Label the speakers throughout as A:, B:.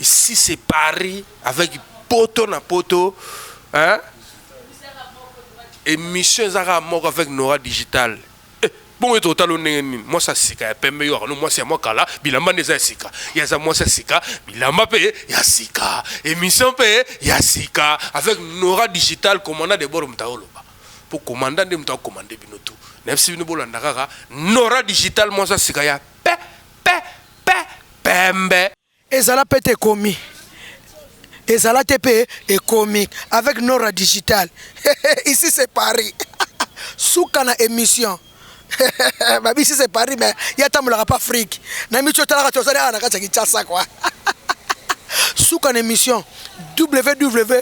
A: Ici c'est Paris avec poto na poto hein? Emission eza kaka moko avec Nora Digital. Eh, bongo ete otala ndenge nini? Mwasi ya sika ya pembe yo akano mwasi ya mwa kala, bilamba nde eza ya sika. Ye aza mwasi ya sika, bilamba mpe ya sika. Emission mpe ya sika avec Nora Digital commandant de bord moto aoloba. Mpo commandant nde moto akomande bino tout. Nayebisi bino bolanda kaka Nora Digital mwasi ya sika ya pe pe pe pembe. Ezala pete
B: ekomi ezala te pe ekomi avec Nora digital ici c'est Paris suka na emission babi ici c'est Paris mais ye atambolaka pa Afrique na micho otalaka te ozali awa na kati ya Kinshasa kwa suka na emission www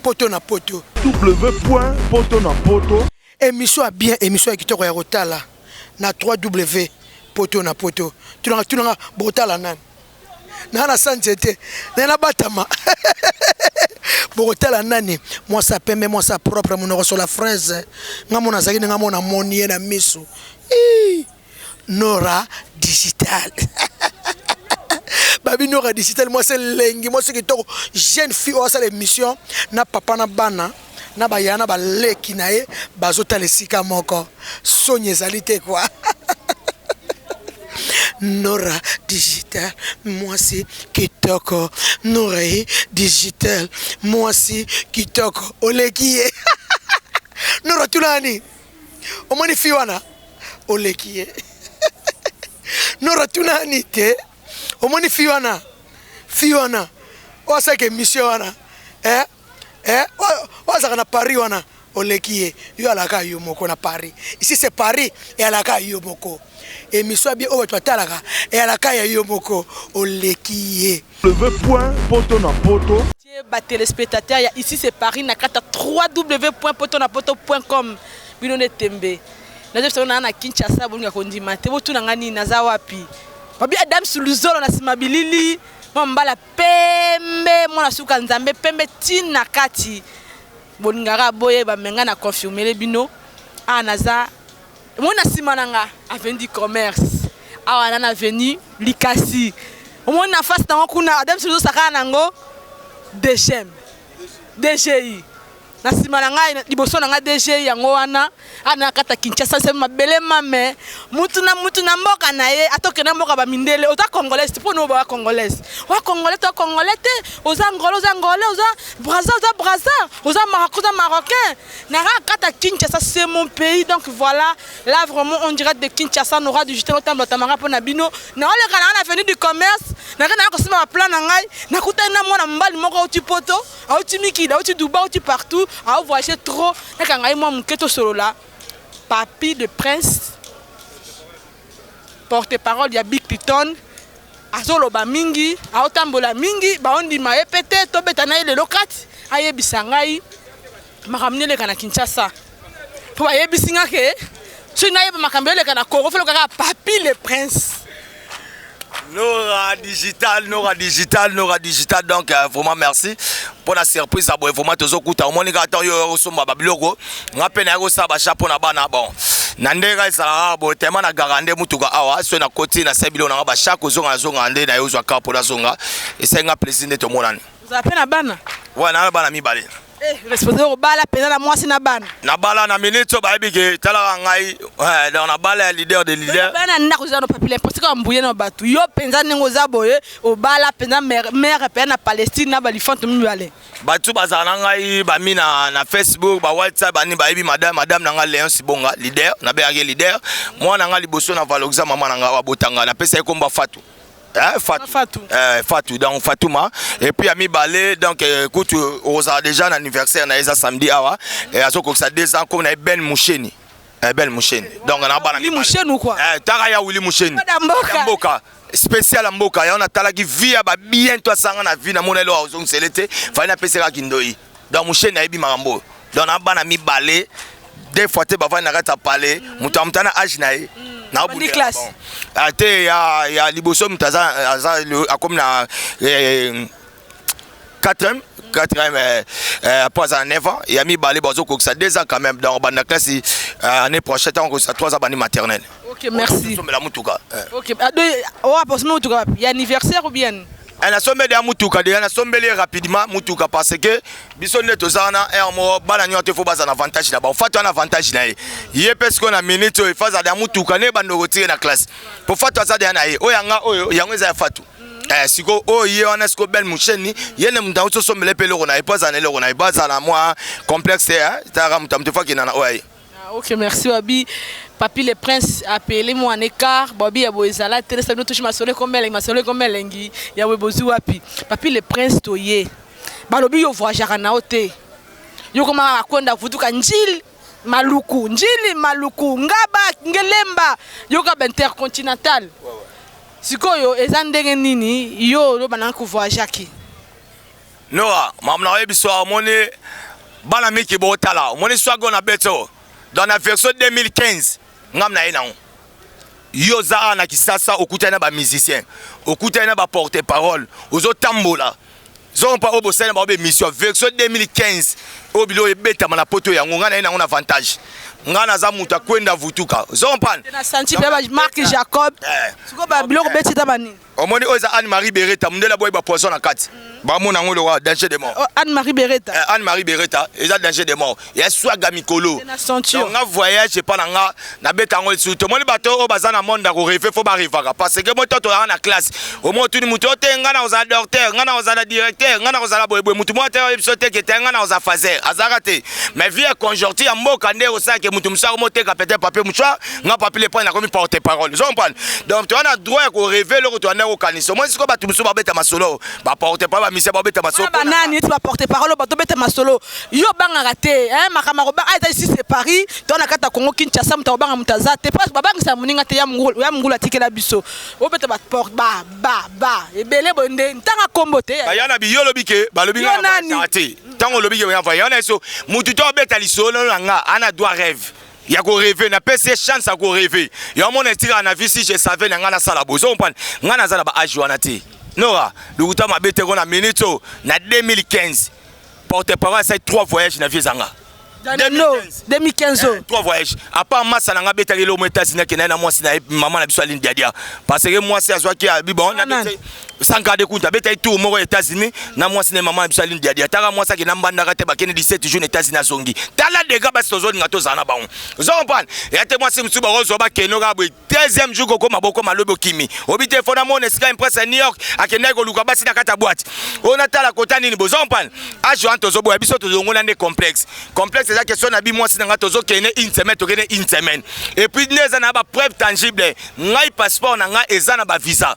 B: poto na poto www poto na
C: poto Emission ya bien
B: emission ya kitoko ya kotala na 3 W poto na poto tunaka tunaka bokotala nani na na sa nzete na na batama bokotala nani mwasi ya pembe mwasi ya propre monoko sola fraise nga mona azalaki ndenge mona moni ye na miso Ii. Nora digital babi Nora digital mwasi elengi mwasi kitoko jeune fille oyo asala émission na papa na bana na baya na baleki na ye bazotala esika moko soni ezali te kwa Nora digital mwasi kitoko Nora ye digital mwasi kitoko oleki ye Nora tuna nani omoni fi wana oleki ye nora tuna ani te omoni fi wana fi wana oyo asalaka emission wana eh? eh? oyo azalaka na paris wana oleki ye yo alaka yo moko na paris ici c'est paris eyalaka yo moko emission abie oyo bato batalaka eyalaka ya yo moko oleki ye leve point poto
C: na poto Salite ba
D: telespetateur ya ici c'est paris na kati ya www.potonapoto.com bino nde tembe nazo yebisa bino naa na kinshasa bolinga kondima te botuna nga nini naza wapi babi adams luzolo na nsima bilili mwa mbala pembe mwana suka nzambe pembe tine na kati bolingaka boye bamenga na confirmele bino awa naza Omoni na sima na nga avenue du commerce awa na na avenue Likasi. Omoni na face nango kuna adem sozo sakana nango DGM. DGI. Na sima na ngai liboso na ngai DGI yango wana ana kata Kinshasa se mabele mame mutu na mutu na mboka na ye atoke na mboka ba mindele oza congolaise te pona ba congolaise. Wa congolais to congolais te oza ngolo oza ngolo oza brazza oza brazza oza marocain oza marocain. Nara kata Kinshasa c'est mon pays donc voilà là vraiment on dirait de Kinshasa on aura du jeter autant de tamara pona bino na ole kana na avenue du commerce na kana ko sima plan na ngai na kuta na mwana mbali moko au poto au timiki au duba au partout au voyager trop na kanga moi muketo solo là papy de prince porte parole ya big piton azoloba mingi aotambola mingi baondima ye mpe te tobeta na ye lelo kati ayebisa ngai makambo neleka na kinshasa mpo bayebisi nga ke soki nayeba makambo eleka na congo foloka kaka papi le prince
E: Nora digital, Nora digital, Nora digital. Donc euh, vraiment merci pour la surprise à boye vraiment tozo kuta omoni ka temps yo osomba ba biloko nga pe na yako sa ba chapeau na bana bon na ndenge ezalaka boye tellement na garande mutuka awa so na koti na sebilo na nga ba chaque ozonga na zonga nde na yo ozwa kapo na zonga esenga plaisir nde tomonani oza
D: pe
E: na bana wana na bana mibale Eh,
D: responsable kobala pena na mwasi na bana. Na bala na minute
E: ba yebi ke talaka ngai eh, donc na bala ya leader de leader. Bana ndako zano papile
D: parce que mbuye na batu. Yo penza nengo za boye obala penza mère mère pe na Palestine na balifante mibale. Batu bazala na
E: ngai ba mi na na Facebook ba WhatsApp bani ba yebi madame madame na ngai Leon Sibonga leader na be yake leader. Mwana ngai liboso na valoxa mama na ngai abotanga na pesa ye komba Fatou. Eh, Fatou. Fatou. Eh, Fatou. Donc Fatouma. Et puis à Mibalé, donc euh, écoute, euh, on a déjà un anniversaire, on a déjà samedi, awa. Et à ce que ça deux ans, qu'on a Ben Moucheni. Eh, Ben Moucheni. Donc on a pas Willy Moucheni ou quoi Eh,
D: Taraya Willy Moucheni.
E: Pas d'Amboka. Mboka. spécial ya mboka yango natalaki vi ya babiento asanga na vi na mona elo azongisele te fali napesaka kindoi donc musheni ayebi makambo oyo donc na bana mibale deux fois te bavandi na kati ya pale moto amuta na age na ye ah,
D: te
E: ya liboso moto aza akomi na 4 quatrième eh, eh, après aza na 9 ans ya mibale bazokokisa 2 ans quand même donc banda classe eh, année prochaine ntango kokisa 3 ans bandi maternelle ok merci
D: omela motuka ok adoye oyo aposami motuka wapi ya anniversaire ou bien Eh, nasombeli deja
E: mutuka deja nasombeli ye rapidement mutuka parce que biso nde toza wana heure moko bana nyonso te fo baza na avantage na bango fatu wana avantage na ye ye mpe sikoyo na minute oyo efa aza deja mutuka nde bandoko tike na classe mpo fatu aza deja na ye oyo yanga oyo yango eza ya fatu eh, siko oyo oh, ye wana siko bel musheni ye nde moto akoso sombele mpe eloko na ye mpo azala na eloko na ye mpo azala na mwa complexe te eh, talaka moto ya moto efakenda na oyo ya ye Ah, ok, merci
D: Wabi. Papi le prince a payé les mois en écart. Bobby ya boye zala te lesa bino touche masolo comme elengi masolo comme elengi ya boye bozu wapi. Papi le prince toye. Balobi yo voyagera na ote. Yo koma akonda kutuka njili maluku njili maluku ngaba ngelemba yoka ba intercontinental sikoyo eza ndenge nini yo oloba na ko voyagaki
E: Noa, mamu na oyebi soa omoni bana miki botala omoni soa go na beto dans la version 2015 ngam na ye nango yo oza awa na kisasa okutani na bamusicien okutani na baporte parole ozotambola zompa oyo bosali na bango bemission version 2015 oyo bilo oyo ebetama na poto yango ngai naye nango na avantage ngai naza moto akwenda vutuka zompana
D: marke jacob eh. siko babiloko eh. beti ta banini Omoni oyo eza Anne Marie
E: Beretta mundele aboyi ba poison na kati. Ba mona ngo lokola danger de mort. Oh, Anne Marie Beretta. Eh,
D: Anne Marie Beretta eza danger de mort. Ya
E: swaga mikolo. Donc nga voyage pas na nga na beta ngo su. Tomoni bato oyo baza na monde ko rêver faut ba revaka parce que moto to na classe. Au moins tu ni moto te nga na oza docteur, nga na oza na directeur, nga na oza la boye boye moto moto yo biso te ke te nga na oza fazer. Azaka te. Mais vie conjoncture ya mboka nde osaka moto musaka moteka peut-être papier mouchoir nga papi le pwani akomi porte parole ozo comprendre donc toza na droit ya koreve eloko toyanda kokanisa omoni sikoyo bato mosusu babeta masolo baporte parole bamisia babeta masolo banani eti baporte
D: parole oyo bato beta masolo yo obangaka te makambo akobanga ah, eza isi se paris toza na kati ya kongo kinshasa moto akobanga moto aza te mpo babangisa moninga te ya mongulu atikela biso obeta baporte ba ba ba ebele boye nde ntanga kombo te aya na biyo olobi ke
E: balobi nga te ntango olobi ke wana eso motu to abeta lisolo na nga ana droit rêve ya ko reve na pesi ye chance ya ko reve ya omona etikaka na vie si je savais na ngai nasala boye ozo comprendre ngai naza na ba age wana te nora lokuta mabe te kona minute oyo na 2015 porte parole asali 3 voyage na vie ezanga 2015 trois
D: voyage apart
E: masa na ngai abetaki eloko mo etats-unis akenda ye na mwasi na ye mama na biso aline diadia parce que mwasi azwaki abi bon Sankade Kunta abetaki tour moko ya États-Unis na mwasi na mama na biso Aline Diadia. Ataka mwasi akenda mbandaka te bakende 17 jours na États-Unis azongi. Tala dega basi tozolinga tozala na bango. Ozo comprendre? Ya te mwasi mosusu bakozwa bakende kaka boye deuxième jour kokoma boko malobi okimi. Obi te fona mona esika impresse ya New York akendaki koluka basi na kati ya boîte. Oyo natala kota nini bozo comprendre? Age wana tozoboya biso tozongola nde complexe. Complexe eza question na bi mwasi na ngai tozokende une semaine tokende une semaine. Et puis nde eza na ba preuve tangible. Ngai passeport na ngai eza na ba visa.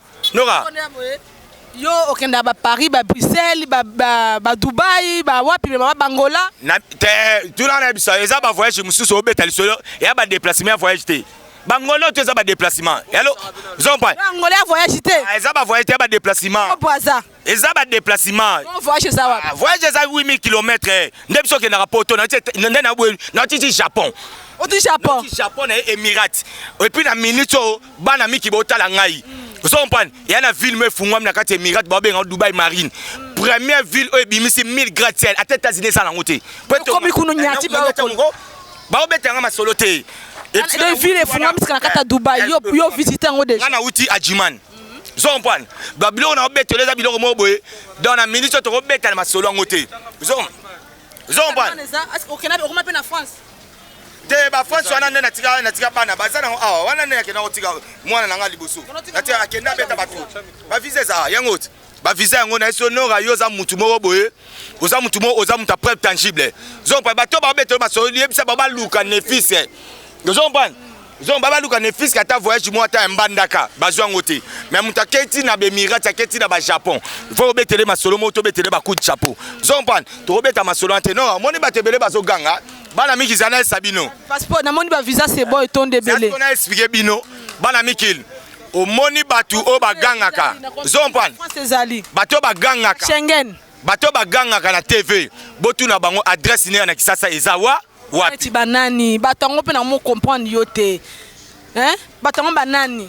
E: Nora.
D: Yo okenda ba Paris, ba Bruxelles, ba, ba, ba Dubaï, ba wapi, mais ba Bangola. Na, te,
E: tout là, na bisa, eza ba voyage mususu obeta lisolo, ya ba déplacement ya voyage te. Bangola oyo eza ba déplacement. Yalo, zompa. Bangola ya voyage te.
D: Ah, eza ba voyage te ya ba
E: déplacement. Opo aza. eza ba déplacement non voyage eza wapi ah,
D: voyage eza 8000 km
E: eh. nde biso kendaka poto nde na boye na titi japon oti japon
D: na japon na emirate
E: et puis na minute oyo bana miki botala ngai ozo comprendre ya na ville mo efungwami na kati ya emirate babenga dubai marine première ville oyo ebimisi 1000 grade ciel ata états-unis eza nango te okomi kuno nyati
D: baobeta
E: yanga masolo te
D: ville efungwami sika na kati ya dubai yo visite yango deja nga na uti ajiman
E: ozo comprendre ba biloko na obetela eza biloko moko boye donc na minute oyo tokobeta na masolo yango te ozo comprendre
D: okoma mpe na france te
E: bafranci wana nde natika natika bana baza nango awa wana nde nakenda kotika mwana na ngai liboso natika akenda beta bato bavisa eza yango ti ba visa yango na yeso nora yo oza mutu moko boye oza mutu moko oza mutu ya preuve tangible zong pa bato babeta yo baso yebisa ba baluka nefis ozo comprendre zong ba baluka nefis ata voyage moko ata ya mbandaka bazwa yango te mais mutu akei ti na bemirati akei ti na bajapon fo obetele masolo moko tobetele bacoup de chapeau ozo comprendre tokobeta masolo wana te nora omoni bato ebele bazoganga bana miki zana esa bino passeport namoni ba
D: visa sebo etonda ebele na explique bino
E: bana mikili omoni bato oyo bagangaka zompane bato oyo bagangaka bato
D: oyo bagangaka
E: na tv botuna bango adresse nea na kisasa eza wa wapi banani bato
D: yango mpe na mo comprendre yo te bato yango banani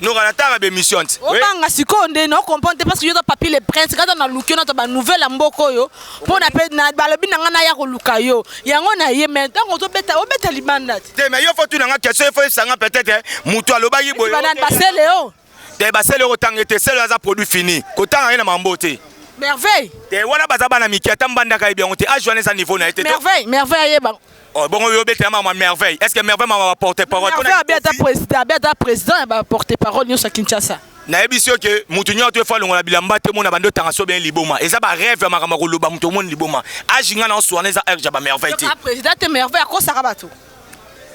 D: noka
E: natanga bemission ti obanga sikoyo nde
D: na comprendre te parce que yo ta papi le prince kata na luki yo nata banouvelle ya mboka oyo mpo na pe na balobi na ngai naya koluka yo yango na ye me ntango ozobeta obeta libanda te te me yo fo tuna ngai
E: question efo esanga peut-être moto alobaki boye banani basele o
D: te basele okotanga
E: ete sele aza produit fini kotanga ye na mambo te merveille
D: te wana baza bana
E: mike ata mbandaka yebi yango te age wana eza niveau na ye te merveille merveille ayeba
D: Oh, bongo yo bete
E: mama merveille. Est-ce que merveille mama va porter parole? Merveille abeta président, abeta
D: président ya ba porter parole nyosa Kinshasa. nayebi si oke
E: motu nyonso to efa longola bilamba te mona bando etanga so bien liboma eza ba rêve ya makambo ya koloba motu omoni liboma age ngai na oswana eza age ya ba merveille te président te merveille akosaka
D: bato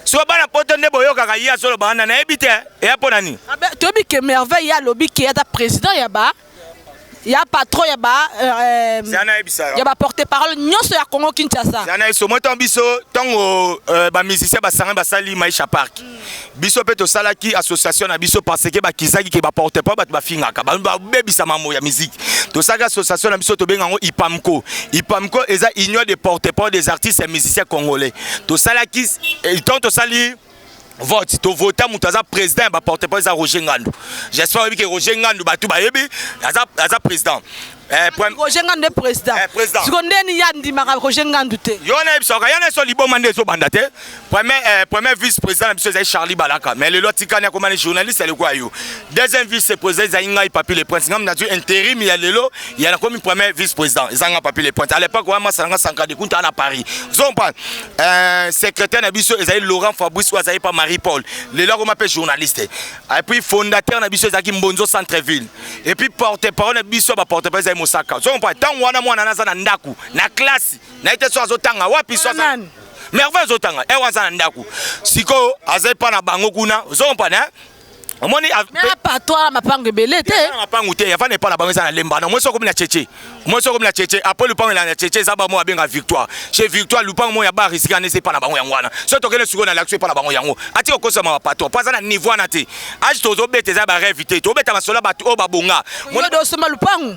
D: so bana
E: poto nde boyokaka ye azoloba wana nayebi te eya mpo na nini toyebi ke merveille
D: ye alobi ke ata président ya ba ya patron ya ba euh, ya ba porte parole nyonso ya Congo Kinshasa zana iso moto biso
E: tango euh, ba musiciens basanga basali Maisha Park mm. biso pe to salaki association na biso parce que bakizaki ke ba porte parole bato bafingaka ba bebisa mambo ya musique to salaki association na biso to benga ngo IPAMCO IPAMCO eza union des porte parole des artistes et musiciens congolais to salaki euh, tant to sali vote to vota moto aza président ya baporte parole eza roger ngandu j'espère oyebi ke roger ngandu bato bayebi aza, aza président Eh, roger
D: ngandu nde président eh, siko nde nini ya ndimaka roger ngandu te yo na yebisaka yana so
E: liboma nde ezobanda te premier eh, vice président na biso ezali charlie balaka mais lelo atikani akomani journaliste aleko ya yo Deuxième vice-président ezali ngai Papy le Prince. Ngai nazwi intérim ya lelo ya nakomi premier vice-président. Eza ngai Papy le Prince. À l'époque wana masala ngai sanka de kunta na Paris. Zompa euh, secrétaire na biso ezali Laurent Fabrice oyo azali pa Marie Paul. Lelo akoma mpe journaliste. Et puis fondateur na biso ezalaki Mbonzo Centre Ville. Et puis porte-parole na biso ba porte-parole ezali Mosaka. Zompa ntango wana mwana naza na ndaku na classe na ete so azotanga wapi so azotanga merveille azotanga ewa eh, aza na ndaku sikoyo azali mpa na bango kuna ozompa na omoni patwala
D: mapango ebele te mapango te avanda epai na
E: bango eza na lemba na omoi sokomi na cheche omoi sokomi na cheche apres lupango elaa na cheche eza bango abenga victoire chez victoire lupango moko ya ba risiki wana eza epai na bango yango wana so tokende sikoyo na lakso epai na bango yango atika okosama bapatwa mpo aza na niveau wana te age tozobeta eza bareve te tobeta masolo ya bato oyo babonga osomba
D: lupango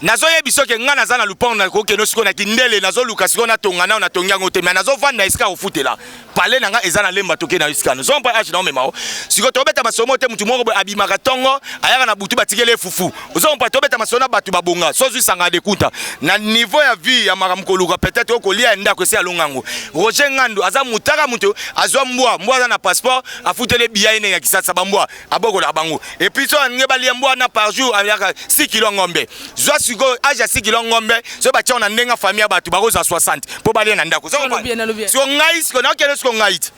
D: nazoyebi
E: soki ngai naza na lupango nakokende sikoyo na kindele nazoluka sikoyo natonga nayo natongi yango te mai nazovanda esika kofutela pale na ngai eza na lemba toke na esika no zompa age naomema o sikoyo tobeta masomo te motu moko boye abimaka ntongo ayaka na butu batikeli efufu ozompa tobeta masomo na bato babonga sozwisanga dekunta na niveau ya vie ya makambo koluka peut-être okolia ya ndako esi alonga yango roger ngandu aza motaka moto azwa mbwa mbwa aza na passeport afuteli biya ene ya kisasa bambwa abokolaka bango epuis soki alingi balia mbwa wana par jour aliaka 6 kilo ya ngombe zwa sikoyo age ya 6 kilo ya ngombe soki batiango na ndenge ya famille ya bato bakozwa 60 mpo balia na ndako siko ngai siko nakende siko ngai te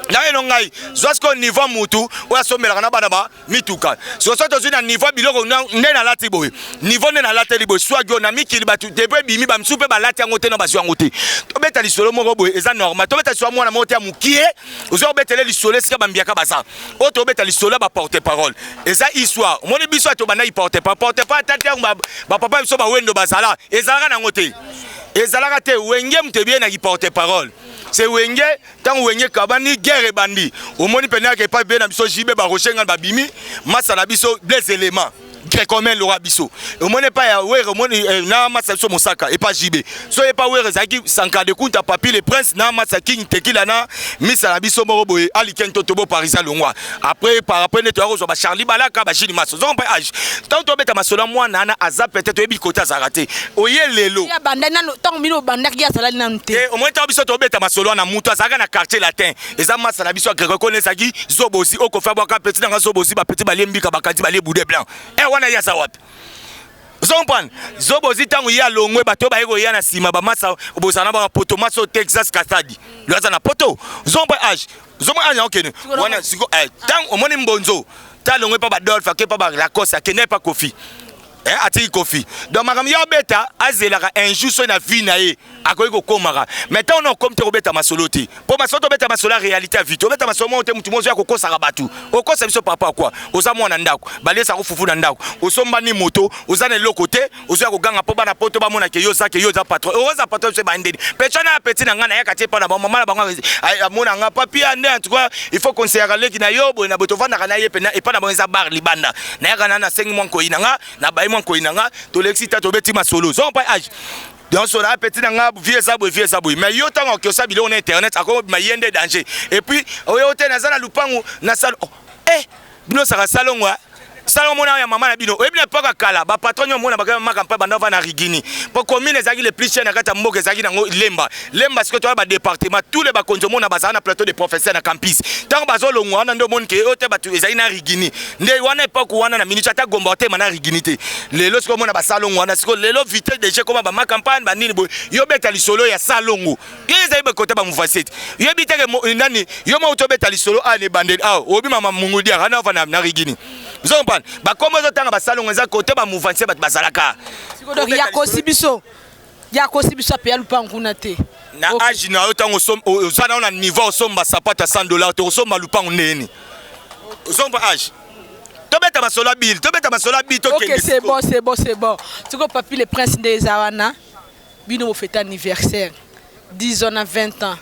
E: nayeno ngai zwa sikoyo niveau mutu oyo asombelaka na bana ba mituka sikoyo soki tozwi na niveau biloko nde nalati boye niveau nde nalateli boye swagio na mikili bato depo ebimi bamisusu mpe balati yango te na bazwi yango te tobeta lisolo moko boye eza normal tobeta lisolo mwana moko te ya mokie oza kobetele lisolo esika bambiaka baza oyo tobeta lisolo ya baporte parole eza histoire omoni biso ya tobandaki porte parole porte parole ata ntango bapapa biso bawendo bazala ezalaka nango te ezalaka te wenge moto ebie na kiporte parole se wenge ntango wenge kabani guerre ebandi omoni mpenaka epai bie na biso jibe baroche ngai babimi masa na biso blaise element grecomen lora biso omoni epai ya were omoni eh, na match ya biso mosaka epai jb so epai were ezalaki sankara de kunta papi le prince na match ya king tekila na misa na biso moko boye aliken to tobo parisien longwa après par après nde toya kozwa bacharli balaka bajini maso ozongo mpe age ntango tobeta masolo ya mwana ana aza peut-être oyebi kote azalaka te oye lelo ntango
D: bino obandaki ye azalaki nanu te eh, omoni ntango biso tobeta
E: masolo wana moto azalaka na quartier latin eza masa na biso ya grego kona ezalaki zobozi okofa bwaka peti nanga zobozi bapeti balie mbika bakanzi balie boude blanc e eh, wana ye aza wapi ozo comprendre zobozi ntango ye alongwe bato oyo baye koya na nsima bamasa bozala na bango poto masa oyo texas kasadi lo aza na poto ozo comprendre age ozo comprendre age yango kene wana siko ntango eh, omoni mbonzo ntango alongwe mpa badolfe ake mpa balacoste akendaki mpa kofi eh, atiki kofi donc makambo ya obeta azelaka un jour soki na vie na ye akoki kokomaka mais ntango na okomi te kobeta masolo te mpo masolo tobeta masolo ya réalité ya vie te obeta masolo moko te motu mozoya kokosaka bato okosa biso papa kua oza mwana ndako balesa kofufu na ndako osombani moto oza na eloko te ozoya koganga mpo bana poto bamona ke yo oza ke yo oza patron oza patron biso ebandeli pecha na ya peti na ngai nayaka te mpo na bamama na bango amona nga papia nde en tout cas il faut konseyaka leki na yo boye na boye tofandaka na ye mpe epai na bango eza bar libanda nayaka na nasengi mwa nkoyi na nga nabayi mwa nkoyi na nga tolekisi ta tobeti masolo zongo mpai age nyonso na apeti na nga vie eza boye vie eza boye mais yo ntango akiosa biloko na internet akobima ye nde danger epuis oyo te naza na lupangu na salo oh, eh bino saka salongo eh? salongo mona ya mama na bino oyebi na mpaka kala bapatron nyo mona bakamaka mpa banda va na rigini mpo commune ezalaki le plus cher na kati ya mboka ezalaki nango lemba lemba sikoyo toya badepartement tous les bakonzi omona bazala na plateau de professeur na campus ntango bazolongwa wana nde omoni ke oyo te bato ezali na rigini nde wana epoke wana na minute ata gomba otema na rigini te lelo sikoyo omona basalongo wana sikoyo lelo vite deje ekoma bamakampagne banini boye yo obeta lisolo ya salongo yo ezali bekota bamuvasete yoyebi teke eh, nani yo mauti obeta lisolo awa ah, na ebandeli awa ah, obi mama mungudia ana ova na rigini ozo comprendre bakombo ezotanga basalongo eza kote bamuvase bato bazalaka ya kosi
D: biso Ya kosi biso apeya lupangu kuna te. Na okay. age na yo
E: tango oza na yo na niveau osomba sapata 100 dollars te osomba lupangu ndenge nini? Osomba age tobeta masolo ya bile tobeta masolo ya bile tokende okay, c'est
D: bon c'est bon c'est bon sikoyo papi le prince nde eza wana bino bofete anniversaire 10 ans na 20 ans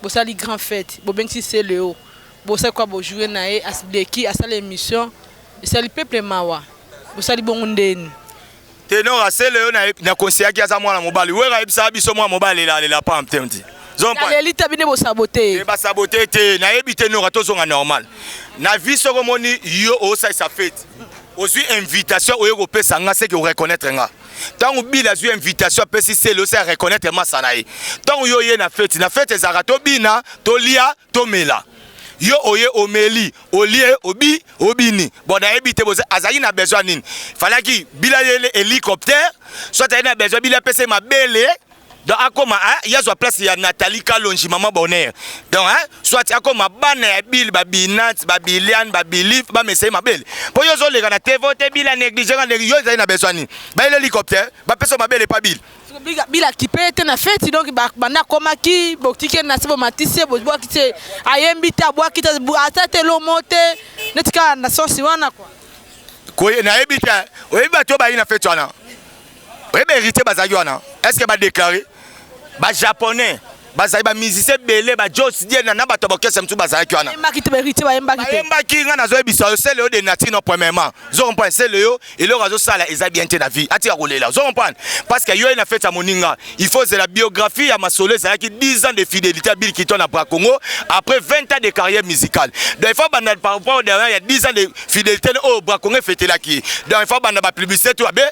D: bosali grand fête bobengisi celeo bosali kwa bojoue na ye asileki asala émission esali peuple mawa bosali bongo ndeni Tenor
E: asele yo na conseillaki aza mwana mobali. Wera ayebisa biso mwana mobali la la pam temti. Zombaleli tabi ne bo saboter.
D: Ne ba saboter te.
E: Na yebi tenor atozonga normal. Na vie soko moni yo osa sa fête. Ozui invitation oye ko pesa nga c'est que o reconnaître nga. ntango bila azwi invitation apesi sele osi areconnaitre masa na ye ntango yo oye na feti na feti ezalaka tobina tolia tomela yo oye omeli olie obi obini bon nayebi te azalaki na besoin nini falaki bila yele hélicoptère soit ayei na besoin bila apesa ye mabele donc akoma eh, ye azwa place ya nathalie kalonji mama bonheur donc eh, soit akoma bana ya bile babinat babiliane babilif bamesa ye mabele mpo yo ozoleka na tevo te bila néglige yo ezali na besoin nini bayeli hélicoptère bapesa mabele epa bile bila kipe
D: ye te na feti donc banda akomaki botiki ye na se bomatisi ye bobwaki te ayembi te abwaki te ata te elomo te neti kaka na sensi wana kua
E: nayebi te oyebi bato oyo bayi na feti wana oyebi héritier bazalaki wana est ce que badeklare bajaponais bazali ba musicien ebele ba jos diena na bato ya baorchestre mosusu bazalaki wana bayembaki ngai nazoyebisa yo sele yo de nature no premièrement zo comprendre sele yo eloko azosala eza bien te na vie atika kolela zo comprendre parce que yo ye na fete ya moninga il faut zela biographie ya masolo ezalaki 10 ans de fidélité ya bill kiton na bra congo après 20 ans de carrière musicale donc il faut banda par rapport derrière ya 10 ans de fidélité oyo bra congo efetelaki donc il faut banda bapublicité to abe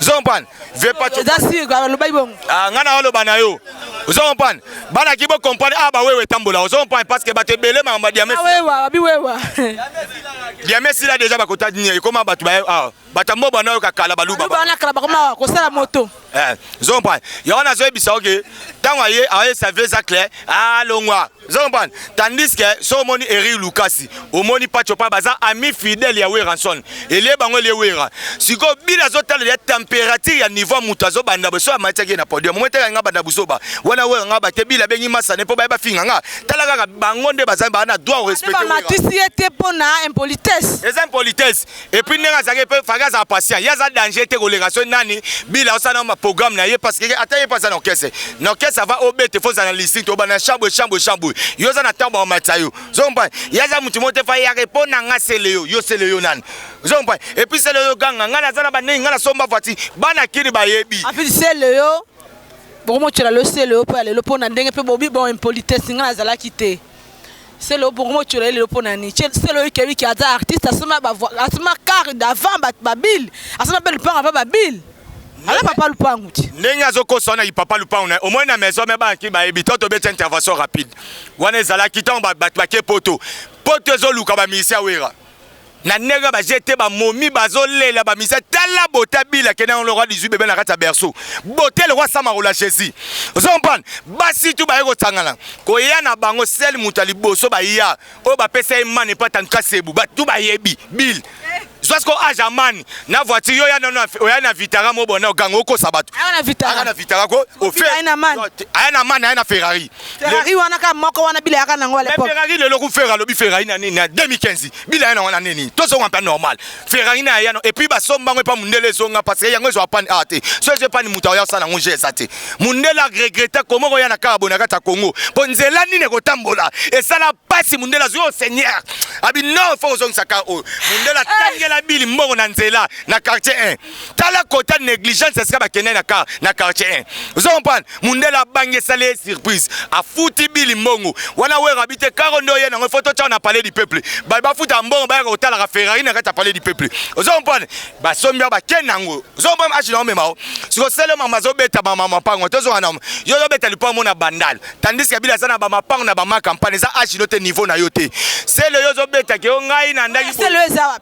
E: ozo comprendre vieux pacho eza sûr alobaki bongo ah nga na oloba na yo ozo comprendre bana ki bo comprendre ah ba wewe tambola ozo comprendre parce que bato ebele makambo ya diame ah, wewa babi wewa diame sila déjà bakota nini ekoma bato ba ah bato mbo bana yo kakala baluba bana kala bakoma kosala
D: moto eh ozo comprendre
E: yango nazoyebisa oke ntango aye ayesa vieux eza clair alongwa ah, ozo comprendre tandis que so omoni Eric Lukasi omoni Pacho pa baza ami fidèle ya Weranson elie bango elie Wera siko bila zo tala ya température ya niveau mutu azo banda boso amatiaki na podium omoni tala nga banda buzoba wana Wera nga bate bila bengi masane po bayeba finga nga tala kaka bango nde baza bana droit respecter Wera matisi ye te
D: pona impolitesse eza impolitesse
E: Et puis ndenge azalaki mpe faki azala patient ye aza danger te koleka soki nani bila osala ma programme na ye parce que ata ye mpe aza na orchestre na orchestre ava obete fo ozala na lisite obanda chambwe chambwe chambwe yo oza na ntango bakomatisa yo ozompa ye aza motu moko te fa ye yake mpo na nga sele yo yo sele yo nani ozompa et puis sele yo ganga ngai naza na banei ngai nasomba voiture bana kini bayebi afiti sele yo
D: bokomotyela losele yo mpo ya lelo mpo na ndenge mpe bobi bon impolitesse ngai nazalaki te selo bongo mocola ye lelo mpo na nini selo oyike wiki aza artiste asoma asoma kare davant babile asoma mpe lupango ava babile ala papa lupangu ti ndenge azokosa wana
E: papa lupangu na omoni na maison me banaki bayebi to tobeti intervention rapide wana ezalaki ntango bato bake poto poto ezoluka bamiisi ya wera na ndenge baje te bamomi bazolela bamisa tala bote abila kende yango lokwa 18 bebe na kati ya berceau bote lokwa samakola jésus ozo comprendre basi tu baye kosangana koya na bango sel moto ya liboso baya oyo bapesa ye mane mpo atanduka sebu batu bayebi bill zwa siko age amani na voiture yo oya na vitara mobona oganga okosa bato aya na vitara
D: ko
E: aya na mane aya na ferrari Ferrari wana kaka
D: moko wana bila yaka nango à l'époque. Ferrari lelo ku Ferrari lobi
E: Ferrari na nini na 2015 bila yana wana nini to zonga mpa normal. Ferrari na yana et puis ba somba ngo pa mundele zonga parce que yango ezo pani a ah, te. So je pani muta ya sala ngo je sate. Mundele a regretta comment ko yana kaka bonaka ta Congo. Po nzela nini ko tambola et sala pasi mundele azo oh, seigneur. Abi non faut zongisa ka o. Oh. Mundele eh. tangela bili mbongo na nzela na quartier 1. tala kota negligence esika bakende na car na quartier 1 ozo comprendre mundela abangi esali ye surprise afuti bili mbongo wana wera abi te karo nde oye nango foto tya na palais du peuple baye bafutaka mbongo bayaka kotalaka ferrari na kati ya palais du peuple ozo comprendre basombi awa bakende yango ozo comprendre ashi na omema o siko sele mama azobeta mama mapango tozonga na yo ozobeta lipango mona bandal tandis kabila aza na bamapango na bamakampane eza ashi no te niveau na yo te sele yo ozobetake yo ngai na ndaki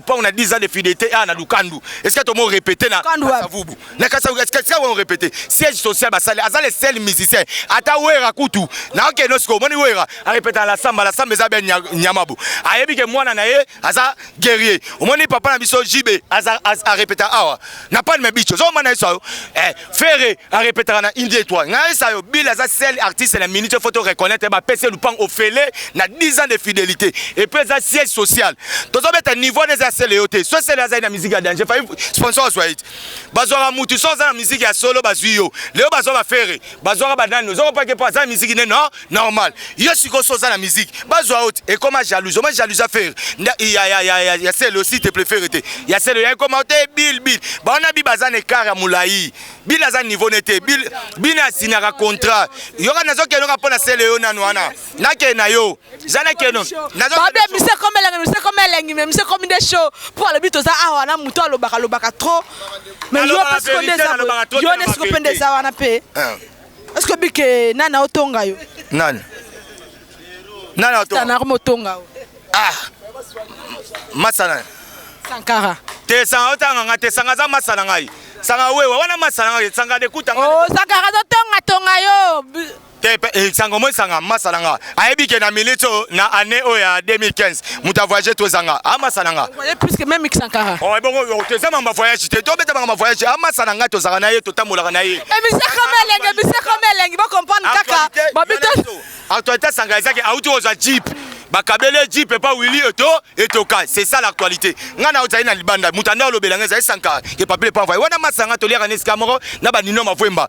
E: Pau na 10 ans de fidélité ah na Lukandu. Est-ce que tout le monde répétait na Kasavubu Na Kasavubu est-ce que on répétait siège social basale aza le seul musicien ata wera kutu na oke no siko moni wera a répéter la samba la samba eza ben nyamabu ayebi ke mwana na ye aza guerrier omoni papa na biso JB aza a répéter awa na pas de bicho zo mana iso eh Ferre a repetaka na India Etoile. Ngai sayo Bill aza seul artiste na minute faut reconnaître ba PC Lupang ofele na 10 ans de fidélité et puis aza siège social. Tozo beta niveau des seul yo te. So seul aza na musique ya danger. Fa sponsor soit it. Bazwa mutu so aza na musique ya solo bazwi yo. Leo bazwa ba Ferre, bazwa ba nani. Ozo pas que pas aza musique ne non. normal yo sikoyo so oza na miziki bazwa yo te ekoma jalouse oma jalouse afere ya sele osi te prefere te ya sele ya ekoma yo te bil bil bawana bi baza na ekar ya molai bil aza niveau ne te bil bina asinyaka contrat yoka nazokenoka mpo na sele yo nanu wana nakee na yo za nakeno babe mise komi elengi
D: mise komi elengi me mise komi nde show mpo alobi toza awa na moto alobaka alobaka trop me yo mpe siko nde eza yo nde siko mpe nde eza wana mpe Est-ce que bike nana otonga yo? Nani?
E: Nana otonga. Nana otonga.
D: Ah.
E: Masana. Sankara.
D: Te sanga
E: otanga nga te sanga za masana ngai. Sanga wewe wana masana ngai sanga de kuta. Oh, sanga za
D: tonga tonga yo. Te pe eh,
E: sanga mo sanga masana ngai. ayebi ke na minute oyo na année oyo ya 2015 moto avoyage to ezanga amasa na nga puisque même mikisankara
D: oh, ebongo oh, toza
E: mamba voyage te tobeta mamba voyage amasa na nga tozalaka na ye totambolaka na ye emisaka eh, melengi
D: emisaka
E: melengi
D: bocomprendre kaka
E: babito actualité
D: sanga ezaki
E: auti
D: kozwa
E: jeep bakabeli jeep epa wili eto etoka c'est ça l'actualité ngai na ozali na libanda moto anda olobela ngai ezali sankara ke papile epa envoye wana masanga toliaka na esika moko na banino mavwemba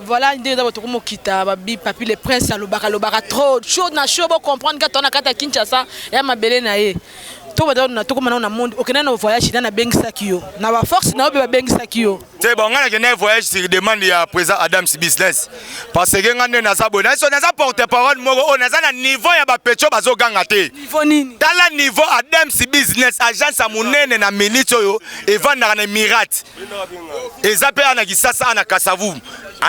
D: Voilà nde eza botoko mokita babi papi le prince alobaka lobaka trop chaud na chaud bo comprendre ka tona kata Kinshasa ya mabele na ye to bada na toko mana na monde okenda na voyage na bengisaki yo na ba force na yo be ba bengisaki yo te bon ngana kenda
E: voyage sur demande ya président Adam si business parce que ngande na za boy na so na za porte parole moko on aza na niveau ya ba pecho bazo ganga te niveau nini tala
D: niveau Adam
E: si business agence ya munene na minute oyo evanda na Emirates eza mpe ana kisasa ana kasavu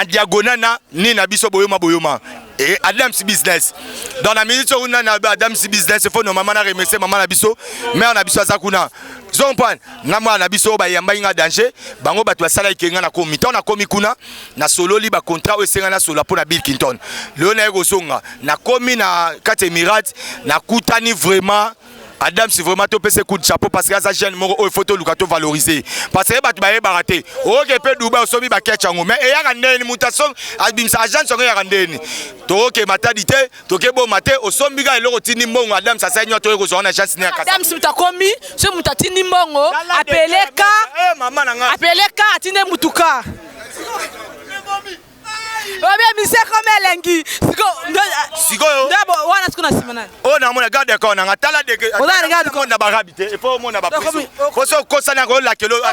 E: en diagonal na ni na biso boyoma boyoma et Adams Business. Dans la minute où on a Adams Business, il faut nos mamans remercier maman na biso, mère na biso azakuna. Zompan, na mwa na biso ba yamba inga danger, bango batu asala ikenga na komi. Tant na komi kuna, na solo li ba contrat o senga na solo pona Bill Clinton. Leo na yego songa, na komi na kate Emirat, na kutani vraiment Adams vraiment to pese coup de chapeau parce que aza jeune moko oyo faut to luka to valoriser parce que batu baye barate oke pe Dubai osomi ba catch yango mais eyaka ndeni mutation abimsa agence yango yaka ndeni toke matadi te toke bo mate osombi ka eloko tindi mbongo Adams asai nyoto yeko zona agence ne akasa Adams mutakomi
D: ce mutatindi mbongo apeleka eh, mama na nga
E: apeleka atinde
D: mutuka obebisi ekomi elengi
E: sikoyo wana siko na nsima
D: nani oyo namona garde ya kona
E: nga tala degeomona
D: barabi te epo
E: omona baposo okosani yango olakelo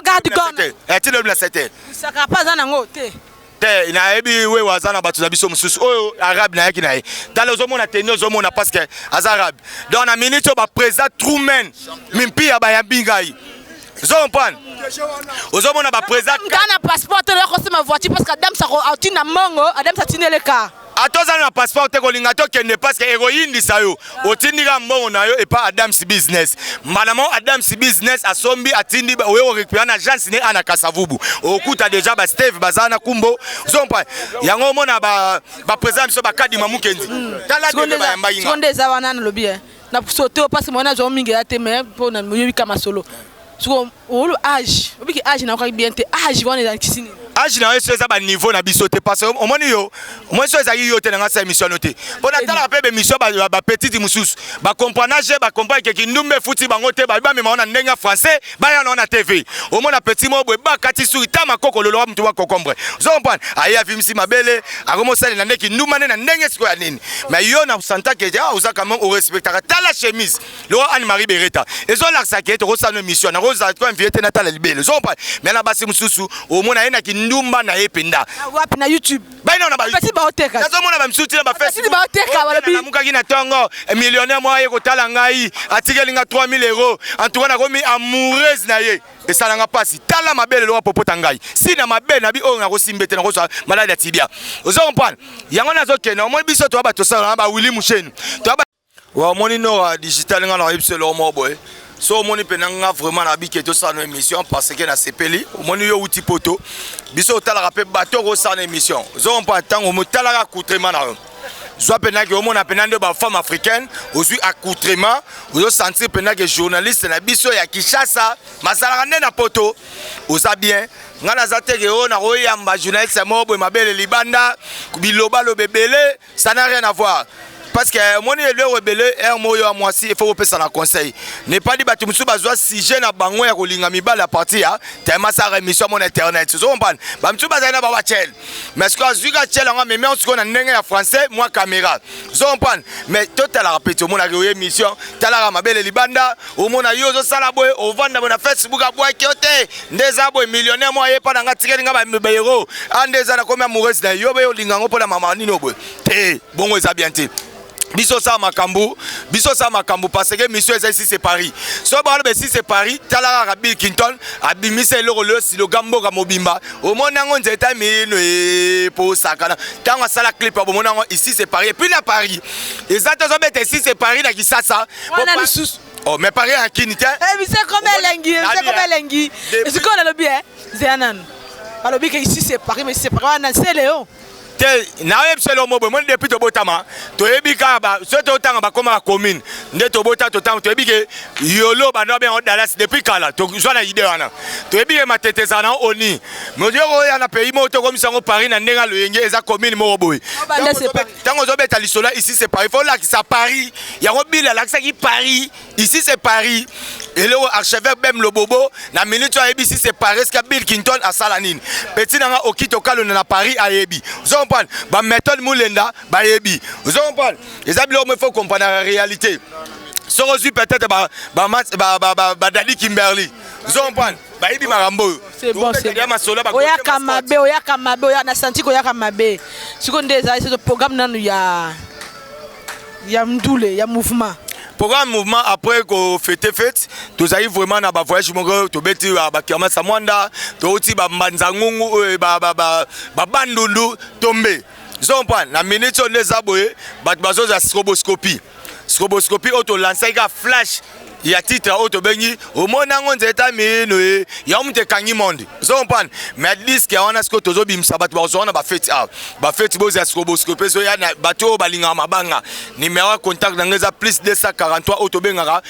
D: atilobi na sete
E: sakapa aza nango
D: te te nayebi
E: wewe aza na bato na biso mosusu oyo arabe nayaki na ye tala ozomona teni ozomona parce que aza arabe donc na minute oyo baprésident truman mimpiya bayambi ngai zompan ozomona bapresa nga na passeport te loyaka
D: osema voiture parce que adams atini na mongo adams atini eleka ata ozali na passeport
E: te kolinga tokende parce que ekoyindisa yo otindika mbongo na yo epa adams business mbala moko adams business asombi atindi oye korekupera na agence ne ana kasavubu okuta deja basteve baza na kumbo zompa yango omona baprésida biso bakadima mokenzi tala nde bayambaki nga eza wana nalobi
D: na sote yo pasi mwana azwa mingi ya te mais mpo na moyebi ka masolo soko olu age obiki age na okaki bien te age wana ezali kisi nini age na yo so eza
E: baniveau na biso te parce omoni yo omoni so ezalaki yo te na ngai sa émission no te mpo natalaka mpe bémission bapetite mosusu bacomprana je bacomprane ke kindumba efuti bango te babi bamema wana ndenge ya français baya na TV omona petit moko boye bakati suri ta makoko loloba mutu wa kokombre zompane aye avimisi mabele akomosalela nde kinduma nde na ndenge sikoyo ya nini mais yo na santa ke ah, oza quand même orespectaka tala chemise lokola anne marie bereta ezolakisa ke tokosala no émission nakozala ko invite natala libele zompane mais na basi mosusu omona ye na kindumba na ye mpenza wapi na youtube
D: baina wana bapesi
E: baoteka nazomona
D: bamisusu tina
E: bapesi baoteka balobi namukaki
D: na ntongo
E: eh, millionnaire moko aye kotala ngai atikeli nga 3000 euro en tout cas nakomi amoureuse na ye esalanga mpasi tala mabe lelo wapopota ngai si na mabe na bi oyo nakosimbe te nakozwa maladi ya tibia ozo comprendre yango nazokende omoni biso toya bato sala na bawili musheni Wa moni nora digital nga na yebisa eloko moko boye so omoni mpena nga vraiment na bike tosala no émission parce que nasepeli omoni yo outi poto biso otalaka mpe bato okosala na émission ozompa ntango motalaka accoutrement na yo zwa mpena ke omona mpena nde bafemme africaine ozwi accoutrement ozosentir mpena ke journaliste na biso ya kinshasa mazalaka nde na poto oza bien ngai naza teke oyo nakoyamba journaliste moko boye mabele libanda bilobaloba ebele Ça n'a rien à voir. parce que eh, omoni eloko ebele heure eh, moko yo ya mwasi efo kopesa na conseil nepali bato mosusu bazwa sujet na bango ya kolinga mibali ya parti ya tema asaka émission yango na internet ozo comprendre bamisusu bazali na bawa chel mais sikoyo azwi ka chel yango amemi yango sikoyo na ndenge ya français mwa caméra ozo comprendre mais totalaka mpe tomonaka oyo émission talaka mabele libanda omona yo ozosala boye ovanda boye na facebook abwaki yo te nde eza boye millionnaire moko ayepa na nga tikeli nga baeuro a ah, nde eza nakomi amoureuse na yo boye olinga yango mpo na mama nini oboye te bongo eza bien te biso sa makambo biso sa makambo parce que mission eza esi se paris soki baloba esi se paris tala kaka bill clinton abimisa eloko leyo siloga mboka mobimba omoni yango nzeta mino epo osakana ntango asala clip abomoni yango esi se paris epuis na paris eza te ozobeta esi se paris na kisasa wana lisusu oh mais pareil à kini te eh bise comme elengi
D: bise comme elengi eziko na lobi eh zela nanu balobi ke ici c'est paris mais c'est paris wana c'est léon te
E: nayebi se lomo boye moni depuis tobotama toyebi kaka so totanga bakoma ba commune nde tobota totanga toyebi ke yolo bando abenga dallas depuis kala tozwa na ide wana toyebi ke matete ezala na oni moyoko oya na pays moko tokomisa yango paris na ndenge aloyenge eza commune moko boye ntango ozobeta lisolo ici c'est paris fo olakisa paris yango bile alakisaki paris ici c'est paris eloko archevêque bem lobobo na minute oyo ayebisi c'est paris eske bill kinton asala nini peti na nga okito kalonda na paris ayebi ozo comprendre ba méthode mulenda bayebi ozo comprendre eza biloko mo faut comprendre la réalité soki ozwi peut-être badadi kimberly ozo comprendre bayibi makambo oyo
D: oyaka mabe oyaka mabe oya na santi koyaka mabe sikoyo nde ezali soso programme nanu ya ya mdule ya mouvement programme mouvement
E: après ko fete fete tozali vraiment na ba voyage moko tobeti ba ba kermasa mwanda touti ba mbanza ngungu euh, ba ba ba, ba bandundu tombe zompa na minute oyo nde eza boye bato bazozala stroboscopie Stroboscopie oyo to lansaki ka flash ya titre oyo tobengi omoni yango nzeta mino ye yango moto ekangi monde ozo comprendre mais diske ya wana sikoyo tozobimisa bato bakozwa wana bafeti awa bafeti bozela sikoyo bosikope ezoya na bato oyo balingaka mabanga nimero ya contact na ngai eza plus 243 oyo tobengaka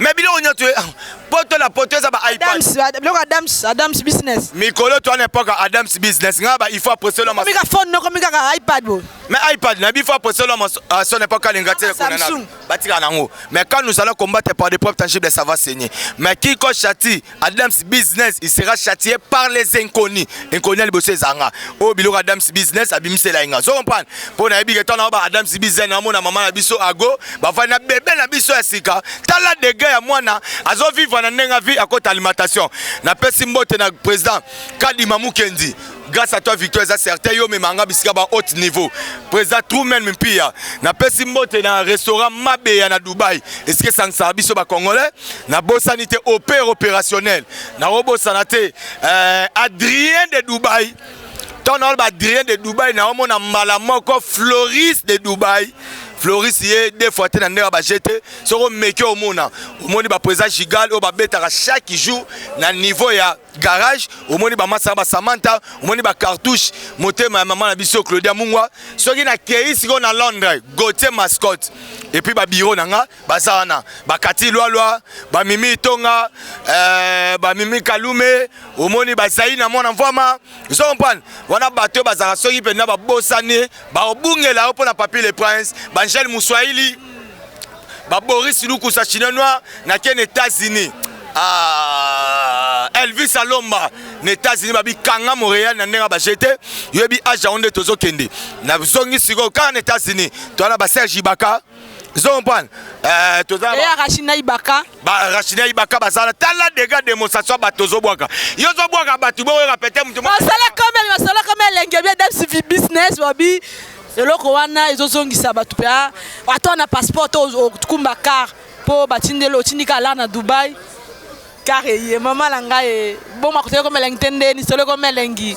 D: mais biloko nyonso
E: eh, poto na poto eza babiloko adams adams
D: business mikolo to wana epoka
E: adams business nga ba il faut apresolo ma mika phone noko mika ka
D: ipad bo mais ipad na bi faut
E: apresolo ma ah, son epoque alinga te kuna na batika
D: nango
E: mais quand nous allons combattre par des preuves tangibles ça va saigner mais qui ko chati Adams business il sera châtié par les inconnus inconnus ya liboso eza nga oyo oh, biloko Adams business abimisela ye nga ozo comprendre mpo nayebi ke ntango ba Adams business namona mama na biso ago bafandi na bebe na biso ya sika tala dega ya mwana azovivre na ndenge avi akota alimentation napesi mbote na président kadima mukendi grâce à toi victoire eza certain yo omema nga bisika ba haute niveau président truman mpia napesi mbote na restaurant mabeya na dubai esika esangisaka biso bacongolais nabosani te opère opérationnel nakobosana te euh, adrien de dubai ntango naolo baadrien de dubai naomona mbala moko floris de dubai floris ye deux fois te na ndenge ya bajete soki omeki omona omoni baprésident gigal oyo babetaka chaque jour na niveau ya garage omoni bamasa ba samanta omoni bacartouche motema ya mama na biso claudia mungwa soki nakei sikoyo na londres gautier mascotte epuis babiro na nga baza wana bakati lwalwa bamimi itonga euh, bamimi kalume omoni bazali na mwana mvwama ozo comprendre wana bato oyo bazalaka soki mpenza babosani baobungela yo mpo na papi le prince bangele moswahili ba Boris Lukusa chinois noir na ken États-Unis ah, Elvis Alomba na États-Unis babi kanga Montréal na ndenge ba jete yebi aja onde tozo kende na zongi siko kanga na États-Unis toana ba Serge Ibaka zo comprendre euh toza ba China Ibaka
D: ba rachina ibaka
E: bazala tala dega demonstration bato ozobwaka yo ozobwaka bato boyoka pete moto masala kome masala
D: kome elenge bia dmcv business babi eloko wana ezozongisa bato mpe ah, ata wana passeport to okumba car mpo batindeli otindi ka ala na dubai car eye mama na ngai boma koteleko melengi te ndeni soleko melengi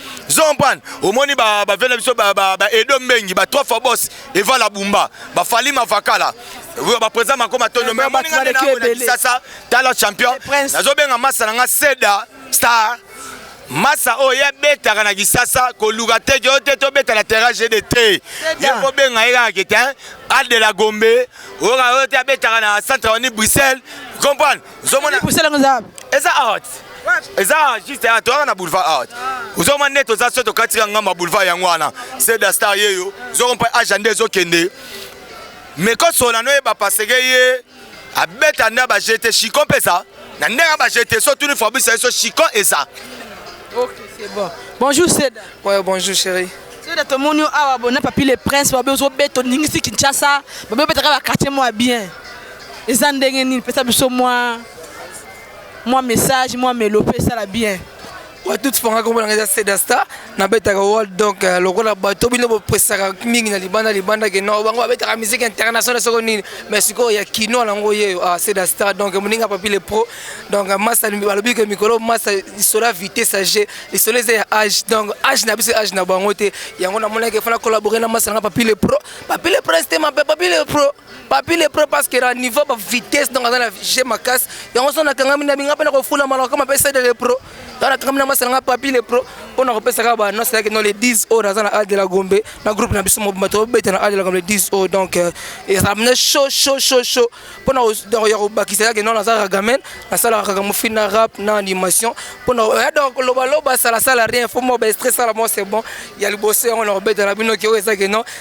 E: zompan omoni bavie na biso baedo mbengi ba trois fois bos evala bumba bafali mavakala baprésident mako matondo me omoni nga nde naamona kisasa tala champion nazobenga masa na nga seda star masa oyo ye abetaka na kisasa koluka te yo te tobeta na terrain gd te ye kobenga ye kaka kete al de la gombe oyoka oyo te abetaka na centre oni bruxelles comprendre ozomona buselanga eza wapi
D: eza out
E: eza juste ya toyaka na boulevard out ozomona nde toza so tokatika ngamba boulevard yango wana seda star yeyo ozoko mpe agenda ezokende mekosola noyeba paseke ye abeta nde bajete chicon mpe eza na ndenge bajete so tuni fabrice yeso chicon eza ok c'est
D: bon bonjour seda ouais bonjour
B: chérie soda tomoni
D: awa bona papi le prince babe ozobeta oningisi kinshasa babe obetaka bakartier mwa bien eza ndenge nini pesa biso mwa mwa message mwa melo mpe esala bien batuti fanga
B: kombo nanga eza sedasta nabetaka world donc euh, lokola bato bino bopesaka mingi na libanda libanda ke no bango babetaka musique internationale soko nini mais sikoyo ya kino nango yeyo ah, sedasta donc moninga papi le pro donc euh, masa balobi ke mikolo masa lisolo ya vitesse age lisolo eza ya age donc age na biso age na bango te yango namonaki efana collabore na masa nanga papi le pro papi le pro estema mpe papi le pro papi le pro parce que na niveau ba vitesse donc aza na je makasi yango so nakangami na binga mpe nakofula malaka kama mpe sede le pro ntango nakangami na masala nga papi le pro mpo na kopesaka ba annonce yake no le 10 oyo naza na al de la gombe na groupe na biso mobimba tobeta na al de la gombe le 10 oyo donc euh, ezala mna chaud chaud chaud chaud mpo na ya kobakisa yake no naza ragamen nasalaka kaka mofi na rap na animation mpo na ya donc kolobaloba salasala rien fo mwa baestre sala mwa c'est bon ya liboso yango na kobeta na bino ke oyo ezake no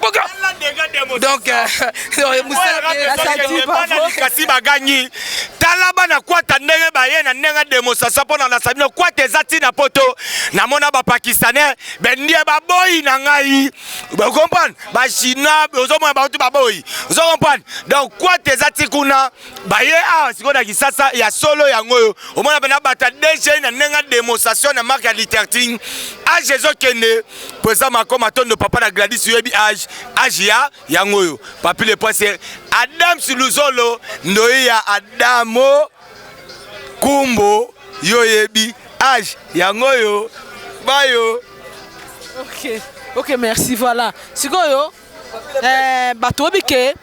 B: boka donc euh,
E: mosalakasi bagangi tala bana kwata ndenge baye na ndenge demosasa mpo na nasa bino kwata eza ntina mpo to namona bapakistanais bendie baboyi na ngai okomprendre bachinois ozomona bauti baboyi ozo comprendre donc kwata eza ti kuna baye awa ah, sikoyo na kisasa ya solo yango oyo omona mpena bata dg na ndenge demostation na marke ya literting age ezokende po eza mako matondo papa na gladis oyebi age age ya yango oyo papi le prince adams luzolo ndoyi ya adamo kumbo yo oyebi age yango oyo bayo ok
D: ok merci voilà sikoyo Eh, bato oyebi ke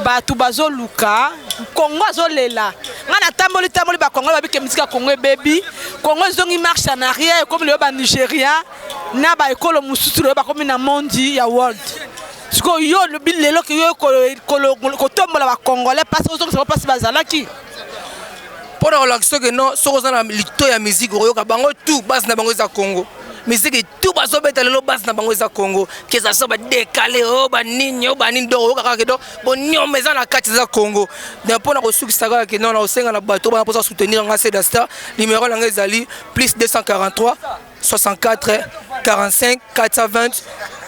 D: bato bazoluka kongo azolela ngai natamboli tamboli bakongo babi ke miziki ya kongo ebebi kongo ezongi marche en arrière ekomi leyo banigeria na baekolo mosusu leyo bakomi na mondi ya world sikoyo yo olobi lelo ke yo kotombola bacongolais mpasi ozongisa bango mpasi bazalaki
B: mpo na kolakisa soki no soki oza na lito ya miziki okoyoka bango tu base na bango eza kongo miziki tout bazobeta lelo base na bango eza congo keza so badekale o oh, banini o oh, banini donc oyoka kaka ke donc bonioma eza na kati eza congo donc mpo na kosukisa kaka ke nona osenga na bato bana mposa soutenir yanga sedasta numero na ngai ezali plus 243 64 45 420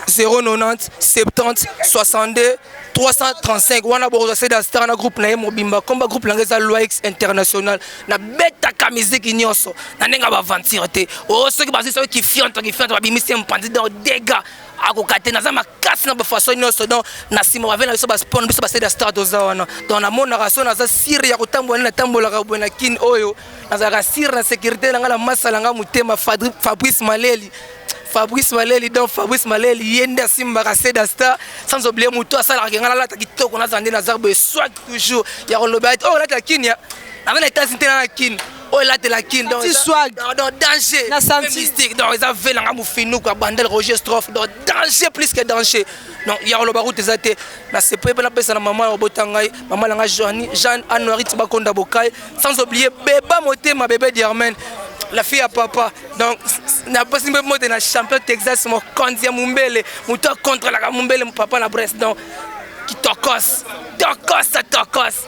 B: 090 70 62 335 wana bokozwa sedasta na groupe na ye mobimba komba groupe na ngai eza loix international nabetaka miziki nyonso na ndenge ya baventure te o oh, soki bazwi soki kifionto kifionto babimisi mpanzi donc dega akoka te naza makasi na bafaso nyonso donc na nsima bave na biso baspon biso basede ya star toza wana donc namonaka so naza sire ya kotambola nde natambolaka boye na kine oyo nazalaka sire na sécurité na ngai na masa na ngai motema fabrice maleli fabrice maleli donc fabrice maleli ye nde asimbaka seda star sans oublie motu asalaka ke ngai nalata kitoko nazala nde naza boye swak toujours ya koloba ete oyo oh, olata kinia Nanga na Etats-Unis te na Kin. Oyo elatela Kin donc swag donc danger na santi mystique
D: donc eza vela
B: nga mufinu kwa bandel Roger Strophe donc danger plus que danger. Donc ya koloba route eza te na sepe pe na pesa na maman ya obota ngai maman na ngai Joanne Jeanne Anouari Tibakonda Bokai sans oublier Beba Motema bébé Diarmen la fille à papa donc napesi mpe mbote na champion texas mokonzi ya mombele moto akontrolaka mombele papa na brest donc kitokos tokos tokos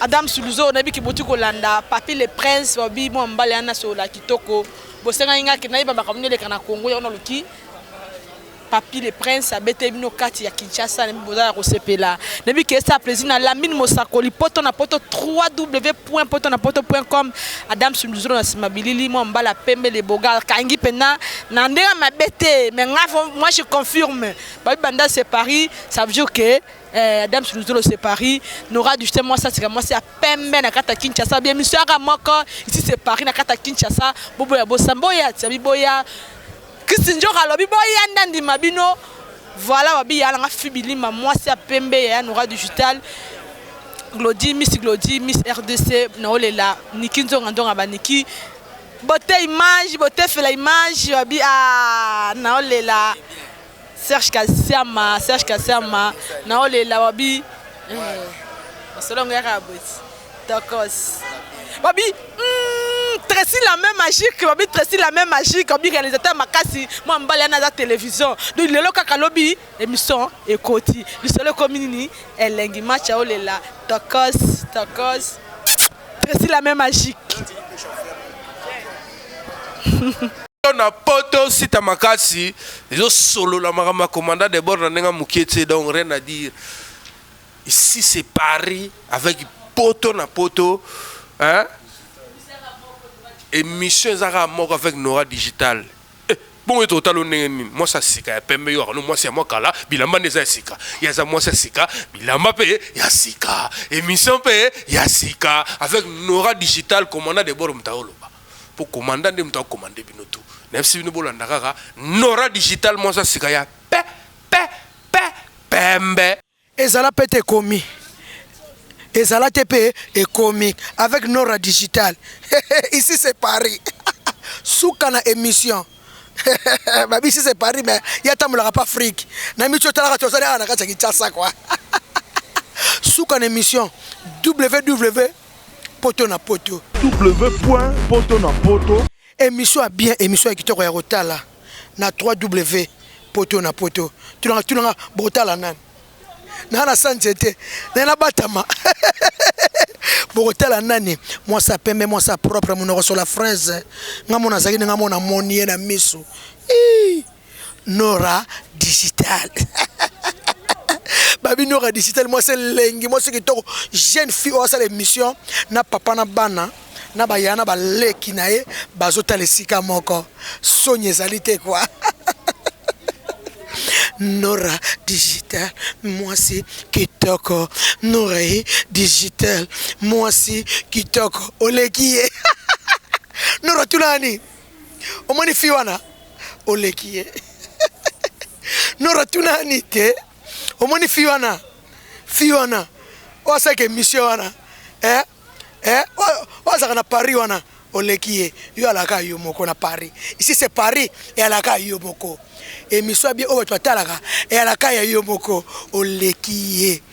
D: Adams Luzo nayebi ke boti kolanda Papy le Prince balobi mwa mobali ya na solola kitoko bosengaki nga ke nayeba makambo nini eleka na Congo yango naluki Papy le Prince abete bino kati ya Kinshasa nayebi boza ya kosepela nayebi ke esa plaisir na Lamine Mosakoli poto na poto www.potonapoto.com Adams Luzo na sima bilili mwa mobali ya pembe le boga kangi pena na ndenge mabe te mais nga moi je confirme babi banda c'est Paris ça veut dire que Eh, Adams Luzolo c'est Paris, Nora Duchete moi ça c'est moi c'est à peine na kata Kinshasa bien monsieur aga moko ici c'est Paris na kata Kinshasa bobo ya bosambo ya tsabi boya Christine Jora lobi boya ndandi mabino voilà wabi ya nga fibilima moi c'est à pembe ya Nora Digital Glody Miss Glody Miss RDC na olela Niki Nzonga Nzonga ba Niki bote image bote fela image wabi ah na olela Serge kasiama serge kasiama naolela wabi eh, masolo yango yaka boti tokos wabi mm, Tracy la même magique wabi Tracy la même magique wabi réalisateur makasi mwa mbali yana aza télévision donc lelo kaka lobi émission ekoti lisolo ekomi nini elengi match aolela tokos tokos Tracy la main magique.
A: Yo na poto sita makasi ezo solola makambo ya commandant de bord na ndenge ya mokie tse donc rien à dire ici c'est paris avec poto na poto hein? émission eza kaka moko avec nora digital Eh bongo yo to talo ndenge nini mwasi ya sika ya pembe yo akano mwasi ya mwa kala bilamba nde eza ya sika ye aza mwasi ya sika bilamba mpe ya sika emission mpe ya sika avec nora digital commandant de bord moto aoloba mpo commandant nde moto akomande bino tu nayebisi bino bolanda kaka nora digital mwasi ya sika ya pe pe pe pembe Ezala pete
B: ekomi ezala te pe ekomi avec nora digital ici c'est paris suka na emission babi ici c'est paris mais ye atambolaka pa afrique na mici otalaka te ozali awa na kati ya kinshasa kua suka na emission ww poto na poto ww poto na
C: poto Emission ya bien
B: emission ya kitoko ya kotala na ww poto na poto tunaka tunaka bokotala nani na na sa nzete na na batama bokotala nani mwasa pembe mwasa propre monoko sola fraise nga mona azalaki ndenge mona moni ye na misu Ii. Nora digital babi Nora digital mwasi elengi mwasi kitoko jeune fille oyo asala émission na papa na bana na baya na baleki na ye bazotala esika moko soni ezali te kwa Nora digital mwasi kitoko Nora ye digital mwasi kitoko oleki ye Nora tuna nani omoni fille wana oleki ye nora tuna ani te omoni fille wana fille wana oyo asalaka emission wana eh? Eh? oyo azalaka na paris wana oleki ye yo alaka yo moko na paris ici c'est paris eyalaka yo moko emission ya bie oyo bato batalaka eyalaka ya yo moko oleki ye